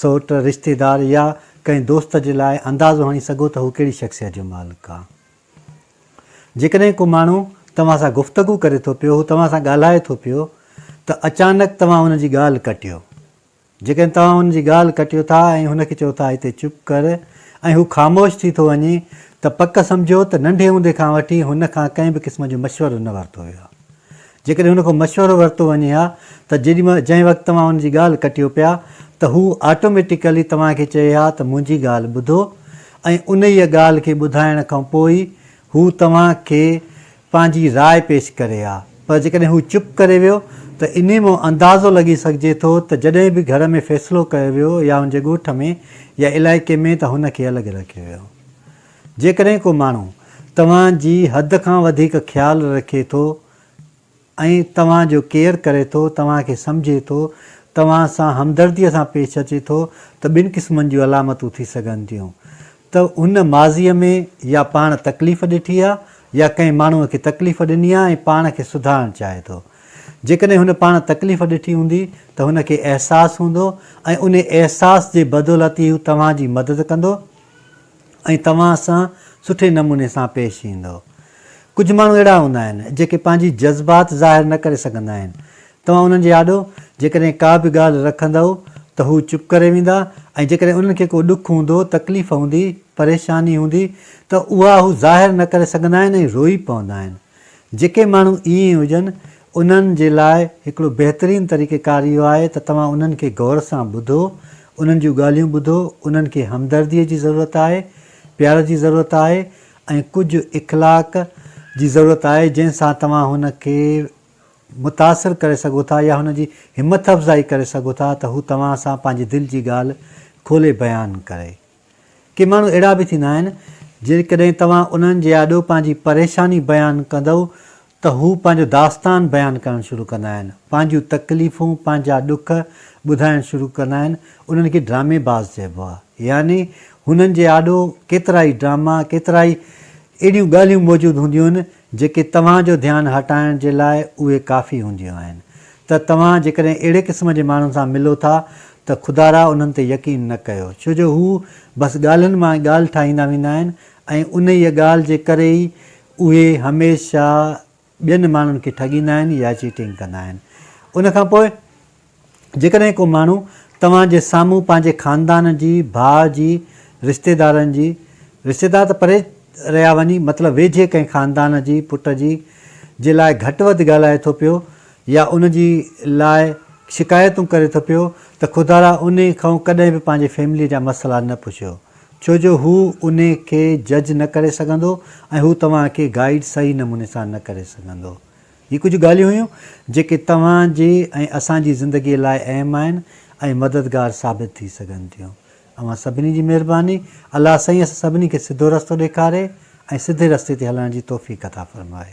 سؤٽ، رشتيدار يا ڪنهن دوست جي لاء اندازو هڻي سگهو ته هو ڪهڙي شخصيت جو مالڪ آ. جيڪڏهن ڪو ماڻهو توهان سان گفتگو ڪري ٿو پيو، هو توهان سان ڳالهائي ٿو پيو ته اچانڪ توهان هن جي ڳالهه ڪٽيو. جيڪڏهن توهان هن جي ڳالهه ڪٽيو ٿا ۽ هن کي چئو ٿا هتي چپ ڪر ۽ هو خاموش ٿي ٿو وڃي ته پڪ سمجهو ته ننڍي هوندي کان وٺي هن کان ڪنهن به قسم جو مشورو نه ورتو ويو آ. جيڪڏهن هن کان مشورو ورتو وڃي ها ته جيڏي مهل جنهن وقت توهان هن جي ڳالهه ڪٽيو پيا ته هو آٽوميٽيڪلي توهان کي چئي ها ته منهنجي ڳالهه ٻڌو ۽ انهيء ڳالهه کي ٻڌائڻ کان پوء ئي هو توهان کي پنهنجي راء پيش ڪري ها پر جيڪڏهن هو چپ ڪري ويو ته انهي مان اندازو لڳي سگهجي ٿو ته جڏهن به گهر ۾ فيصلو ڪيو ويو يا هن جي ڳوٺ ۾ يا علائقي ۾ ته هن کي الڳ رکيو ويو. جيڪڏهن ڪو ماڻهو توهان جي حد کان وڌيڪ خيال رکي ٿو ۽ توهان جو ڪيئر ڪري ٿو، توهان کي سمجهي ٿو، توهان سان همدرديء سان پيش اچي ٿو ته ٻن قسمن جون علامتون ٿي سگهن ٿيون ته هن ماضيء ۾ يا پاڻ تڪليف ڏٺي آهي يا ڪنهن ماڻهوء کي تڪليف ڏني آهي ۽ پاڻ کي سڌارڻ چاهي ٿو. جيڪڏهن هن پاڻ تڪليف ڏٺي هوندي ته هن کي احساس هوندو ۽ انهي احساس جي بدولت ئي هو توهان جي مدد ڪندو. ۽ توهان سان سٺي نموني سان پيش ايندو. ڪجهه ماڻهو اهڙا هوندا آهن، جيڪي پنهنجي جذبات ظاهر نه ڪري سگهندا آهن. توهان انهن جي آڏو جيڪڏهن ڪا به ڳالهه رکندؤ ته هو چپ ڪري ويندا ۽ جيڪڏهن انهن کي ڪو ڏک هوندو، تڪليف هوندي، پريشاني هوندي ته اها هو ظاهر نه ڪري سگهندا آهن ۽ روئي پوندا آهن. جيڪي ماڻهو ائين هجن انهن جي لاء هڪڙو بهترين طريقه ڪار اهو آهي ته توهان انهن کي غور سان ٻڌو، انهن جون ڳالهيون ٻڌو، انهن کي همدرديء جي ضرورت آهي، پيار جي ضرورت آهي ۽ ڪجهه اخلاق جي ضرورت آهي جنهن سان توهان هن کي متاثر ڪري سگهو ٿا يا هن جي همٿ افزائي ڪري سگهو ٿا ته هو توهان سان پنهنجي دل جي ڳالهه کولي بيان ڪري. ڪي ماڻهو اهڙا به ٿيندا آهن، جيڪڏهن توهان انهن جي آڏو پنهنجي پريشاني بيان ڪندؤ ته هو پنهنجو داستان بيان ڪرڻ شروع ڪندا آهن، پنهنجيون تڪليفون، پنهنجا ڏک ٻڌائڻ شروع ڪندا آهن، انهن کي ڊرامي باز چئبو آهي، يعني هنن جي آڏو ڪيترائي ڊراما، ڪيترائي اهڙيون ڳالهيون موجود هونديون آهن، جيڪي توهان جو ڌيان هٽائڻ جي لاء اهي ڪافي هونديون آهن ته توهان جيڪڏهن اهڙي قسم جي ماڻهن سان ملو ٿا ته خدارا انهن تي يقين نه ڪيو ڇو جو هو بس ڳالهين مان ئي ڳالهه ٺاهيندا ويندا آهن ۽ انهيء ڳالهه جي ڪري ئي اهي هميشه ٻين ماڻهن کي ٺڳيندا آهن يا چيٽنگ ڪندا آهن ان کان پوء جيڪڏهن ڪو ماڻهو توهان جي سامهون پنهنجي خاندان جي، ڀاء جي، رشتيدارن جي، رشتيدار ته پري رهيا وڃي مطلب ويجهي ڪنهن خاندان جي، پٽ جي، جي لاء گهٽ وڌ ڳالهائي ٿو پيو يا ان جي لاء شڪايتون ڪري ٿو پيو ته خدارا انهي کئون ڪڏهن به پنهنجي فيملي جا مسئلا نه پڇيو ڇو جو هو انهي کي جج نه ڪري سگهندو ۽ هو توهان کي گائيڊ صحيح نموني سان نه ڪري سگهندو. هي ڪجهه ڳالهيون هيون جيڪي توهان جي ۽ اسان جي زندگي لاء اهم آهن ۽ مددگار ثابت ٿي سگهن ٿيون. اوهان سڀني جي مهرباني. الله سائين اسان سڀني کي سڌو رستو ڏيکاري ۽ سڌي رستي تي هلڻ جي توفيق عطا فرمائي.